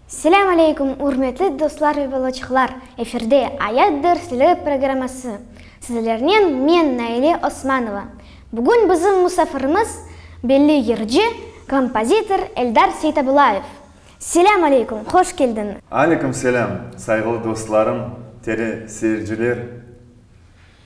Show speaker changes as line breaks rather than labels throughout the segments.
Selâm aleykum, ürmetli dostlar ve balaçıqlar! Efirde Ayat dersleri programması. Sizlernen men, Naile Osmanova. Bugün bizim musafirimiz, belli yırcı, kompozitor Eldar Seytabulayev. Selâm aleykum, hoş keldiñiz! Aleykum selâm, sayğılı dostlarım, tele seyirciler!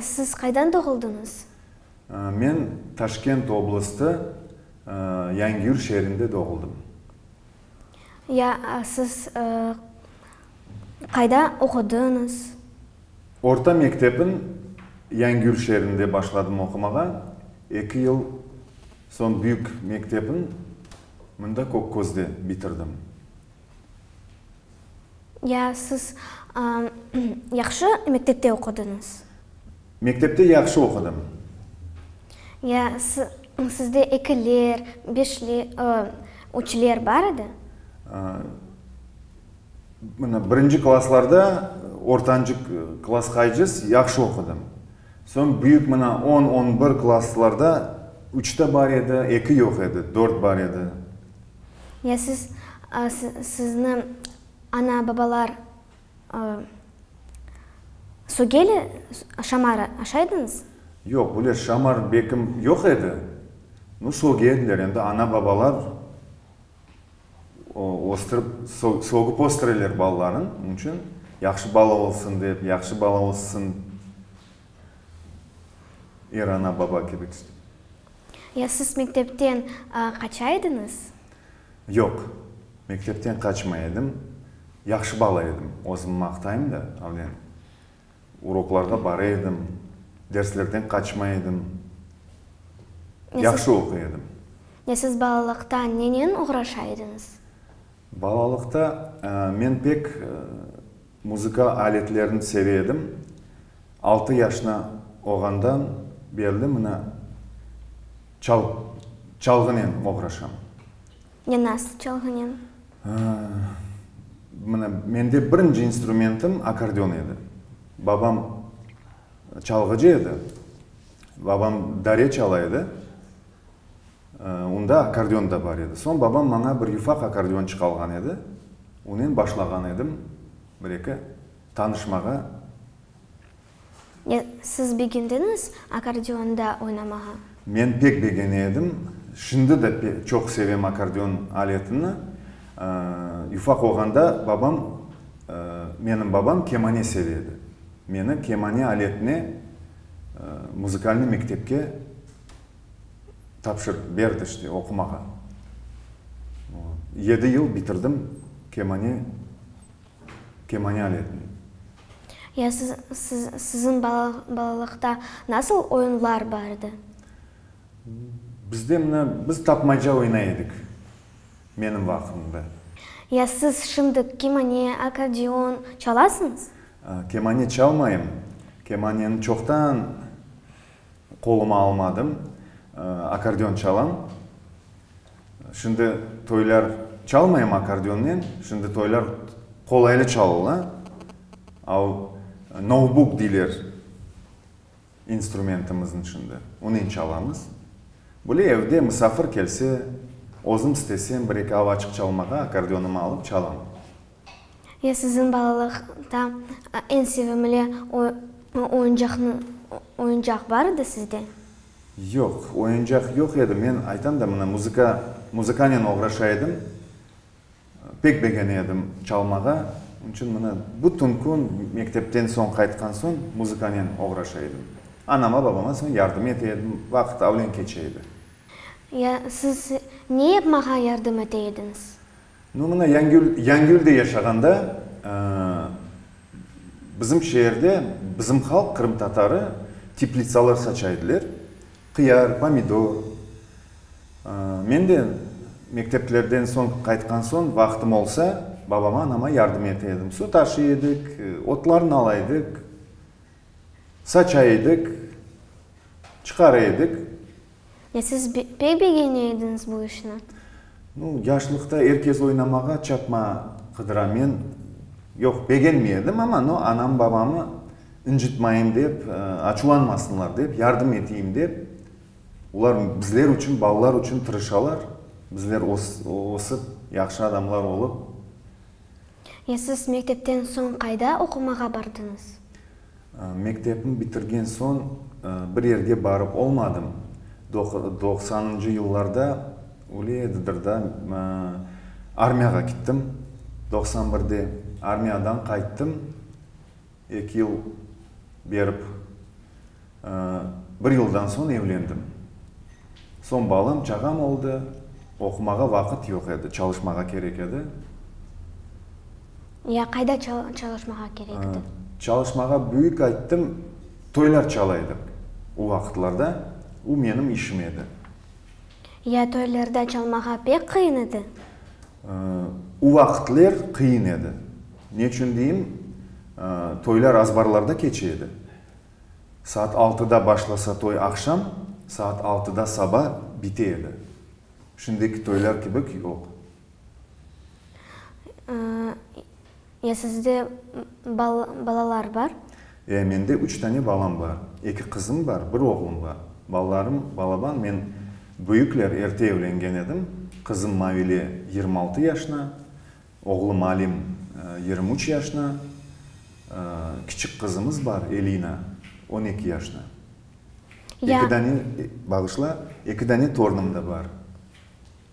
Siz qaydan doğuldıñız? Men Taşkent oblasti Yangiur şeerinde doğuldım. Ya siz qayda oqudıñız? Orta mektebin Yangiur şeerinde başladım oqumağa, eki yıl soñ büyük mektebin mında Kokkozde bitirdim. Ya siz yahşı mektepte oqudıñız? Mektepte yahşı oqudım. Ya sizde ekiler, üçler bar edi? Mına, birinci klaslarda, ortancı klasqaycız yahşı oqudım. Soñ büyük mına on, on bir klaslarda üç te bar edi, eki yoq edi, dört bar edi. Ya siz, sizni ana-babalar Sogeli şamarı aşaydıñız? Yoq, böyle şamar bekim yoq edi. Nu, Soge ediler, endi ana-babalar östürip, sogıp östüreler balalarını. Onıñ içün yahşı bala olsun dep, yahşı bala össün. Er ana-baba kibi tüsnip. Ya siz mektepten qaça ediñiz? Yoq, mektepten qaçmay edim. Yahşı bala edim, özümni maqtayım da, avlen. Uroklarğa bara edim, derslerden qaçmay edim. Yahşı oquy edim. Ya siz balalıqta nenen oğraşa ediñiz? Balalıqta men pek. Muzıka aletlerini seve edim. Altı yaşına olğandan berli mına çal, çalğınen oğraşam. Ne nasıl çalğınen? Mına, mende birinci instrumentim akordeon edi. Babam çalğıcı edi. Babam dare çala edi. Unda akkordeon da bar edi. Soñ babam maña bir yufaq akkordeonçıq alğan edi. Onen başlağan edim bir-eki tanışmağa. Siz begendiñiz akkordeonda oynamağa? Men pek begene edim. Şimdi de çoq sevem akkordeon aletini. Yufaq olğanda babam, menim babam kemane seve edi. Meni kemane aletine muzıkalnıy mektepke. tapşır, berdi işte oqumağa. Yedi yıl bitirdim kemane, kemane aletin. Ya siz, siz, siziñ balalıqta nasıl oyunlar bar edi? Bizde mına, biz tapmaca oynay edik, menim vaqtımda. Ya siz şimdi kemane, akkordeon çalasıñız? Kemane çalmayım. Kemaneni çoqtan. Qoluma almadım. Akkordeon çalam. Şimdi toylar çalmayım akkordeonnen. Şimdi toylar qolaylı çalıla. A o novbuk deyler instrumentimizin şimdi. Onen çalamız. Böyle evde musafir kelse, özüm istesem, bir-eki avaçıq çalmağa akkordeonımı alıp çalam. Ya siziñ balalıqta eñ sevimli oyuncaq bar edi sizde? Yoq, oyuncaq yoq edi. Men aytam da, mına, muzıka, muzıkanen oğraşa edim. Pek begene edim çalmağa. Onıñ içün, mına, bütün kün mektepten soñ, qaytqan soñ muzıkanen oğraşa edim. Anama, babama soñ yardım ete edim. Vaqıt avlen keçe edi. Ya siz ne yapmağa yardım ete ediñiz? No, mına Yangül, Yangülde yaşağanda, bizim şeerde, bizim halq, qırımtatarı, teplitsalar saça ediler. Qıyar, pomidor. Men de mekteplerden soñ, qaytqan soñ, vaqtım olsa, babama, anama yardım ete edim. Su taşıy edik, otlarnı ala edik, saça edik, çıqara edik. Ya siz pek begene ediñiz bu işni? Nu, yaşlıqta er kez oynamağa çapma qıdıra. Men, yoq, begenmey edim, amma, no, anam-babamı incitmayım dep, açuvlanmasınlar dep, yardım eteyim dep, olar bizler içün, balalar içün tırışalar, bizler ösip, yahşı adamlar olıp. Ya siz mektepten soñ qayda oqumağa bardıñız? Mektepni bitirgen soñ bir yerge barıp olmadım. Doqsanıncı yıllarda öyle edidir da, armiyağa kittim, doqsan birde. Armiyadan qayttım, eki yıl berip. Bir yıldan soñ evlendim. Soñ balam, çağam oldı. Oqumağa vaqıt yoq edi, çalışmağa kerek edi. Ya qayda çalışmağa kerek edi? Çalışmağa büyük ayttım, toylar çalaydıq o vaqıtlarda, o menim işim edi. Ya toylarda çalmağa pek qıyın edi? O vaqıtler qıyın edi. Neçün deyim, toylar azbarlarda keçe edi. Saat altıda başlasa toy aqşam, saat altıda saba bite edi. Şimdiki toylar kibi yoq. Ya sizde balalar bar? Ya, mende üç tane balam bar. Eki qızım bar, bir oğlum bar. Balalarım, balaban, men büyükler erte evlengen edim. Qızım Mavile yirmi altı yaşına, oğlum Alim yirmi üç yaşına, kiçik qızımız bar, Elina, on eki yaşına. Eki dane, bağışla, eki dane tornım da bar.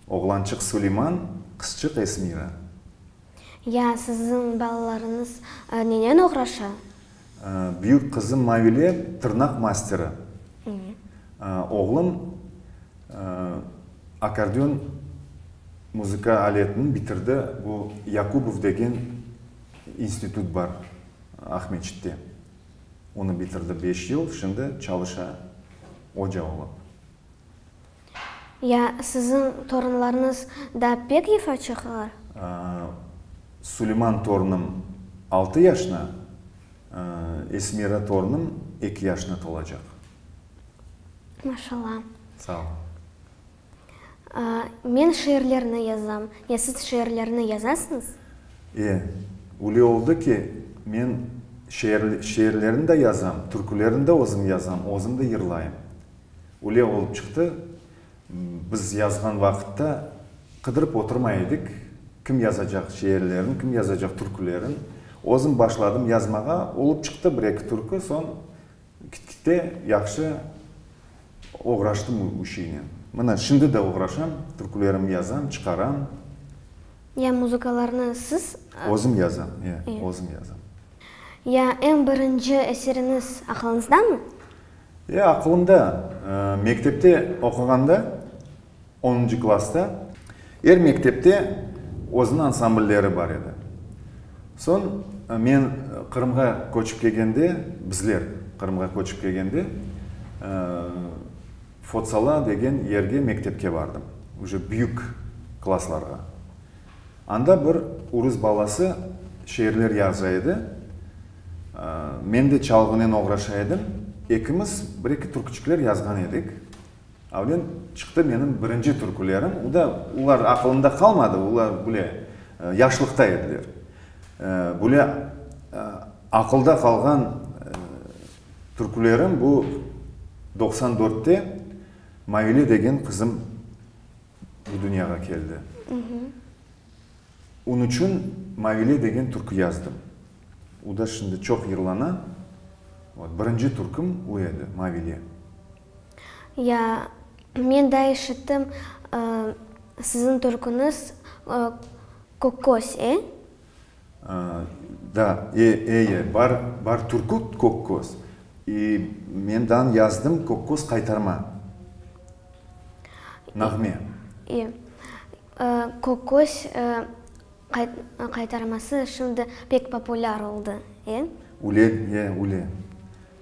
Oğlançıq Suleyman, qızçıq Esmira. Ya, siziñ balalarıñız nenen oğraşa? Büyük qızım Mavile, tırnaq masteri. Oğlum akordeon muzıka aletini bitirdi, bu Yakubov degen institut bar Aqmescitte. Onı bitirdi beş yıl, şimdi çalışa oca olıp. Ya siziñ torunlarıñız da pek efa çıqalar? Suleyman torunım altı yaşına, Esmira torunım eki yaşına tolacaq. Maşalla. Sağ ol. Men şiirlerni yazam. Ya siz şiirlerni yazasıñız? E, üle oldı ki, men şiirlerni de yazam, türkülerni de özüm yazam, özüm de yırlayım. Öyle olıp çıqtı, biz yazğan vaqıtta qıdırıp oturmay edik, kim yazacaq şiirlerin, kim yazacaq türkülerin. Özüm başladım yazmağa, olıp çıqtı bir-eki türkü, soñ git-gitte yahşı oğraştım o işinen. Mına, şimdi de oğraşam, türkülerimni yazam, çıqaram. Ya muzıkalarnı siz? Özüm yazam, ya, özüm yazam. Ya eñ birinci eseriñiz aqlıñızdamı? Ya, aqılımda, mektepte oquğanda, onuncı klasta. Er mektepte özüniñ ansamblleri bar edi. Soñ men Qırımğa köçip kelgende, bizler Qırımğa köçip kelgende, Fotsala degen yerge mektepke bardım, üce büyük klaslarğa. Anda bir urus balası şeerler yaza edi. Men de çalğınen oğraşa edim. Ekimiz bir-eki türküçikler yazğan edik. Avlen çıqtı menim birinci türkülerim. O da olar aqılımda qalmadı, olar bile yaşlıqta ediler. Bile aqılda qalğan türkülerim bu doqsan dörtte Maile degen qızım bu dünyağa keldi. Onı içün Maile degen türkü yazdım. O da şimdi çoq yırlana. Vot, birinci türküm o edi, Mavile. Ya, men da eşittim, siziñ türküniz Kökköz, e? Da, e, eye, bar, bar türkü Kökköz. İ, men dan yazdım Kökköz qaytarma. Nağme. İ, Kökköz, e. Qaytarması şimdi pek populâr oldı, e? Üle, e, üle.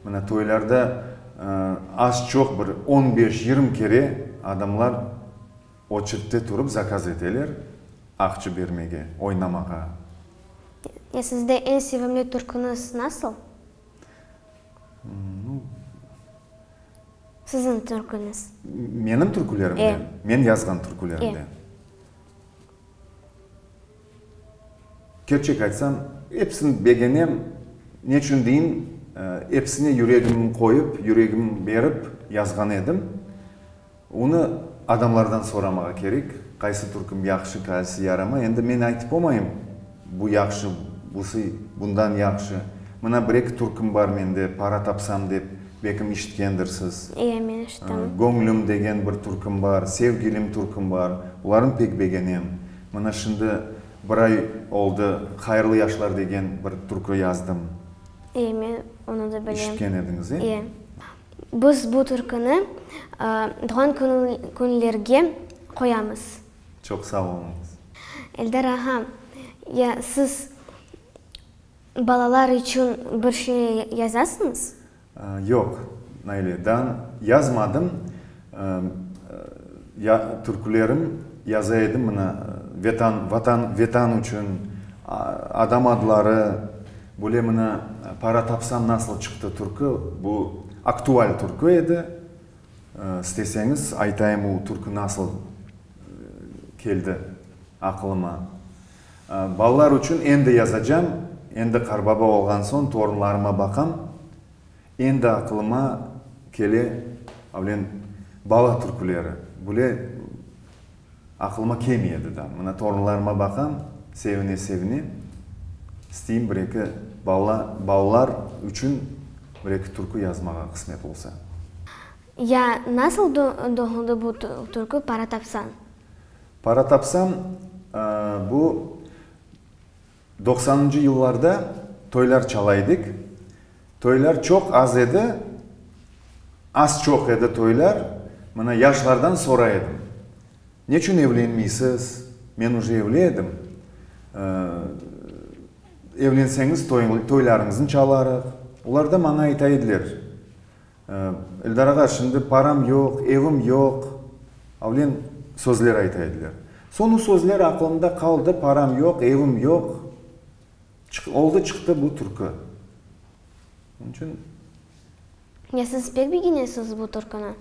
Mına toylarda az-çoq bir on beş-yirmi kere adamlar oçertte turıp zakaz eteler aqçı bermege, oynamağa. E, sizde eñ sevimli türküniz nasıl? Nu. Siziñ türküniz. Menim türkülerimden? E. Men yazğan türkülerimden? E. Kerçek aytsam, episini begenem, neçün deyin, episine yüregimni qoyıp, yüregimni berip yazğan edim. Onı adamlardan soramağa kerek, qaysı türküm yahşı, qaysı yaramay. Endi men aytıp omayım. Bu yahşı, busı bundan yahşı. Mına bir-eki türküm bar mende, para tapsam dep, bekim işitkendirsiz. İye, men işittim. Göñlüm degen bir türküm bar, Sevgilim türküm bar. Bularnı pek begenem. Mına şimdi bir ay oldı, Hayırlı yaşlar degen bir türkü yazdım. İye, men onı da bilem. İşitken ediñiz, e? İye. Biz bu türküni doğan künlerge qoyamız. Çoq sağ oluñız. Eldar ağa, ya siz balalar içün bir şey yazasıñız? Yoq, Naile, da yazmadım. Ya türkülerim yaza edim, mına, Vetan, Vatan, Vetan içün, adam adları, böyle, mına, Para tapsam nasıl çıqtı türkü, bu aktual türkü edi. İsteseñiz aytayım u türkü nasıl keldi aqılıma. Balalar uçün endi yazacam, endi qarbaba olğan soñ torunlarıma baqam, endi aqılıma kele avlen bala türküleri. Bule Aqılıma kelmey edi da. Mına torunlarıma baqam, sevine-sevine, isteyim bir-eki bala, balalar içün bir-eki türkü yazmağa qısmet olsa. Ya nasıl doğuldı bu türkü Para tapsan? Para tapsan, bu Doqsanıncı yıllarda toylar çala edik. Toylar çoq az edi. Az-çoq edi toylar. Mına, yaşlardan soray edim, neçün evlenmeysiz? Men uje evli edim. Evlenseñiz, toylarıñıznı çalarıq. Olar da maña ayta ediler. Eldar ağa, şimdi param yoq, evim yoq, avlen sözler ayta ediler. Soñ o sözler aqılımda qaldı, param yoq, evim yoq, oldı çıqtı bu türkü. Onıñ içün. Ya siz pek begenesiz bu türküni?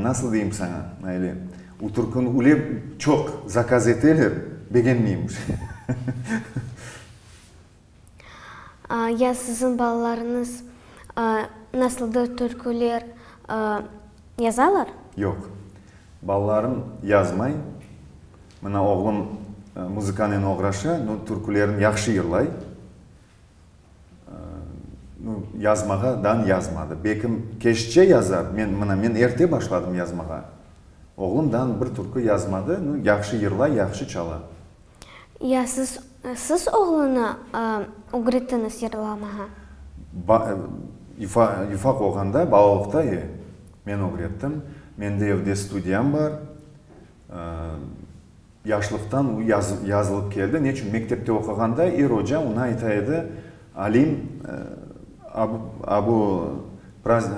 Nasıl deyim saña, Naile, o türküni üle çoq zakaz eteler, begenmeyim. Ya siziñ balalarıñız nasıldır türküler yazalar? Yoq, balalarım yazmay. Mına oğlum muzıkanen oğraşa, no türkülerin yahşı yırlay. No yazmağa dan yazmadı. Bekim keşçe yazar, men, mına men erte başladım yazmağa. Oğlum dan bir türkü yazmadı, no yahşı yırlay, yahşı çala. Ya siz, siz oğlunı ögrettiñiz yırlamağa? Ba, yufa, yufa qolğanda, balalıqta, e, men ögrettim. Mende evde studiyam bar. Yaşlıqtan u yaz, yazılıp keldi. Neçün? Mektepte oquğanda er oca oña ayta edi, Alim, a, a bu praz, e,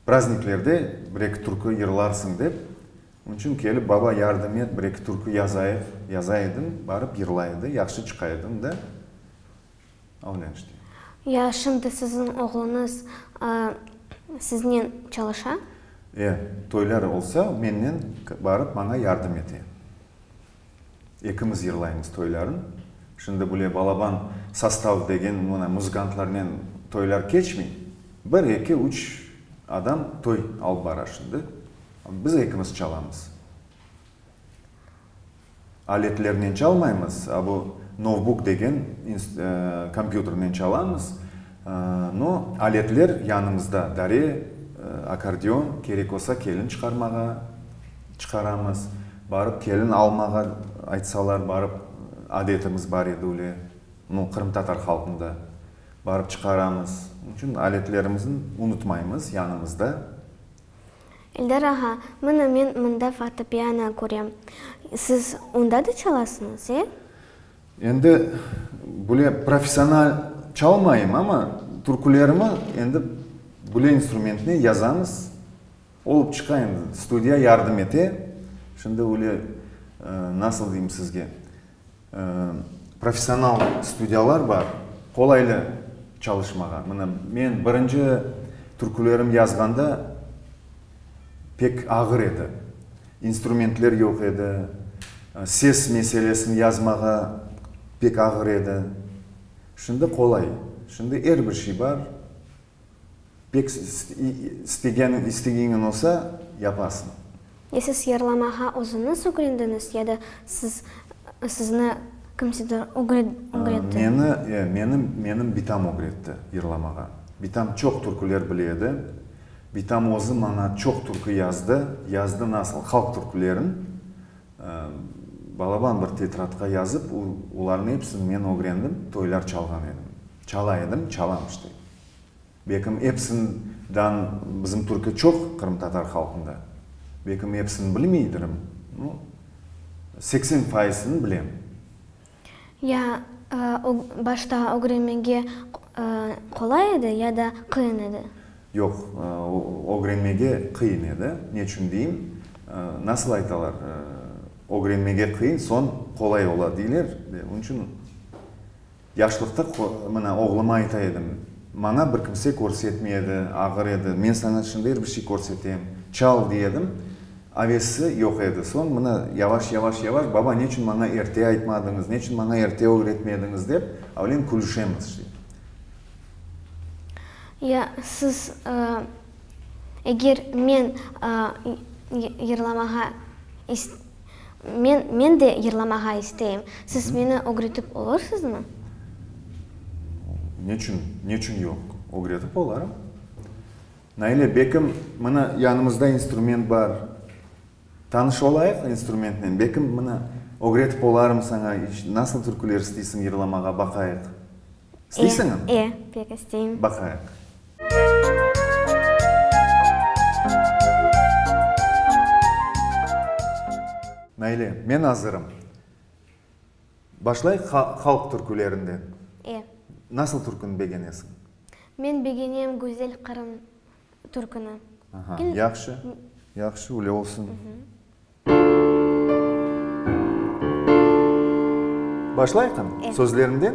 Prazniklerde bir-eki türkü yırlarsıñ dep, onıñ içün kelip, baba, yardım et, bir-eki türkü yazayıq, yaza edim, barıp yırlay edi, yahşı çıqa edim de, avlen işte. Ya, şimdi siziñ oğluñız siznen çalışa? E, toylar olsa, mennen barıp, maña yardım ete. Ekimiz yırlaymız toylarnı. Şimdi bule balaban sastav degen mına muzıkantlarnen toylar keçmey. Bir, eki, üç adam toy alıp bara şimdi. Biz ekimiz çalamız. Aletlernen çalmaymız, a bu novbuk degen kompyuternen çalamız. No, aletler yanımızda, dare, akordeon, kerek olsa kelin çıqarmağa. Çıqaramız. Barıp kelin almağa aytsalar, barıp, adetimiz bar edi üyle, bu qırımtatar halqında. Barıp çıqaramız. Onıñ içün aletlerimizni unutmaymız yanımızda. Eldar ağa, mına men mında fortepiano körem. Siz onda da çalasıñız, e? Endi, böyle professional çalmayım, amma türkülerimi endi böyle instrumentnen yazamız. Olıp çıqa endi, studiya yardım ete. Şimdi öyle, nasıl deyim sizge, professional studiyalar bar, qolaylı çalışmağa. Mına, men birinci türkülerim yazğanda pek ağır edi. İnstrumentler yoq edi, ses meselesini yazmağa pek ağır edi. Şimdi qolay, şimdi er bir şey bar. Pek istegen, istegeñiñ olsa, yapasıñ. Ya siz yarlamağa özüñiz ögrendiñiz, ya da siz, sizni kimsedir ögretti? Meni, e, meni, menim bitam ögretti yarlamağa. Bitam çoq türküler bile edi. Bitam özü maña çoq türkü yazdı, yazdı nasıl halq türkülerin, Balaban bir tetradqa yazıp, olarnıñ epsini men ögrendim, toylar çalğan edim. Çala edim, çalam işte. Bekim epsinden bizim türkü çoq qırımtatar halqında. Bekim epsini bilmeydirim, no, seksen faizini bilem. Ya başta ögrenmege qolay edi, ya da qıyın edi? Yoq, ögrenmege qıyın edi. Neçün deyim? Nasıl aytalar, ögrenmege qıyın, soñ qolay ola, deyler. Onıñ içün yaşlıqta mına oğluma ayta edim, maña bir kimse körsetmedi, ağır edi, men saña şimdi er bir şey körsetem, çal, dey edim. Avesi yoq edi. Soñ mına yavaş, yavaş, yavaş, baba, neçün maña erte aytmadıñız, neçün maña erte ögretmediñiz, dep avlen külüşemiz şey. Ya siz, eger men yırlamağa is, men, men de yırlamağa isteyim, siz meni ögretip olursiñizmi? Neçün, neçün yoq? Ögretip olarım. Naile Bekim, mına, yanımızda instrument bar. Tanış olayıq instrumentnen. Bekim, mına, ögretip olarım saña, nasıl türküler isteysiñ yırlamağa, baqayıq. İsteysiñmi? E, e, pek isteyim. Baqayıq. Naile, men azırım. Başlayıq halq türkülerinden. E. Nasıl türküni begenesiñ? Men begenem Güzel Qırım türküni. Aha, yahşı, yahşı, üyle olsun. Başlayqın, sözlerinden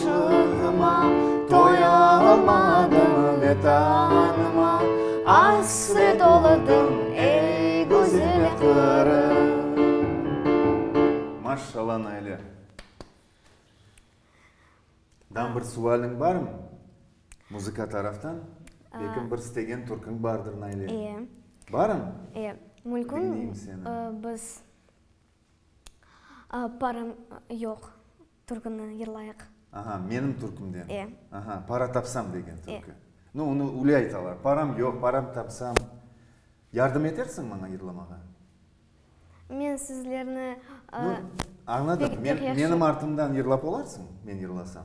Çığıma, toya olmadım, Vetanıma asre toladım, Ey, güzel Qırım. Maşşala, Naile! Dan bir sualiñ barmı? Muzıka taraftan belkim bir istegen türküñ bardır, Naile? İye. Barım? İye. Mülkün. Diñleyim seni. Biz, parım yoq. Türküni yırlayıq. Aha, menim türkümden. E. Aha, para tapsam degen türkü. E. No, onı üyle aytalar, param yoq, param tapsam. Yardım etersiñ maña yırlamağa? Men sizlerni, aa, No, añladım, men, menim artımdan yırlap olarsıñ, men yırlasam?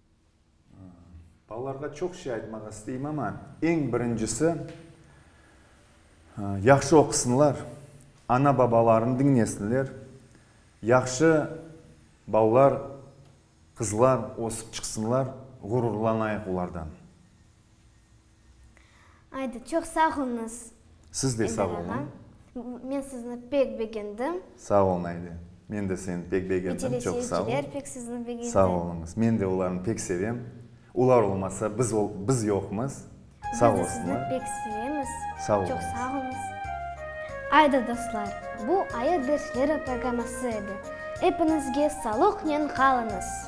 Balalarğa çoq şey aytmaq isteyim, amma eñ birincisi, yahşı oqusınlar, ana-babalarını diñlesinler, yahşı balalar, qızlar ösüp çıqsınlar, ğururlanayıq olardan. Aydı, çoq sağ oluñız. Siz de sağ oluñ. Men sizni pek begendim. Sağ olun Aydı. Men de seni pek begendim. Çoq sağ ol. Ve teleseyirciler pek sizni begendi. Sağ oluñız. Men de olarnı pek sevem. Olar olmasa biz ol, biz yoqmız. Sağ olsunlar. Biz de sizni pek sevemiz. Sağ oluñız. Çoq sağ oluñız. Aydı dostlar, bu Ayı dersleri programması edi. Epiñizge salıqnen qalıñız!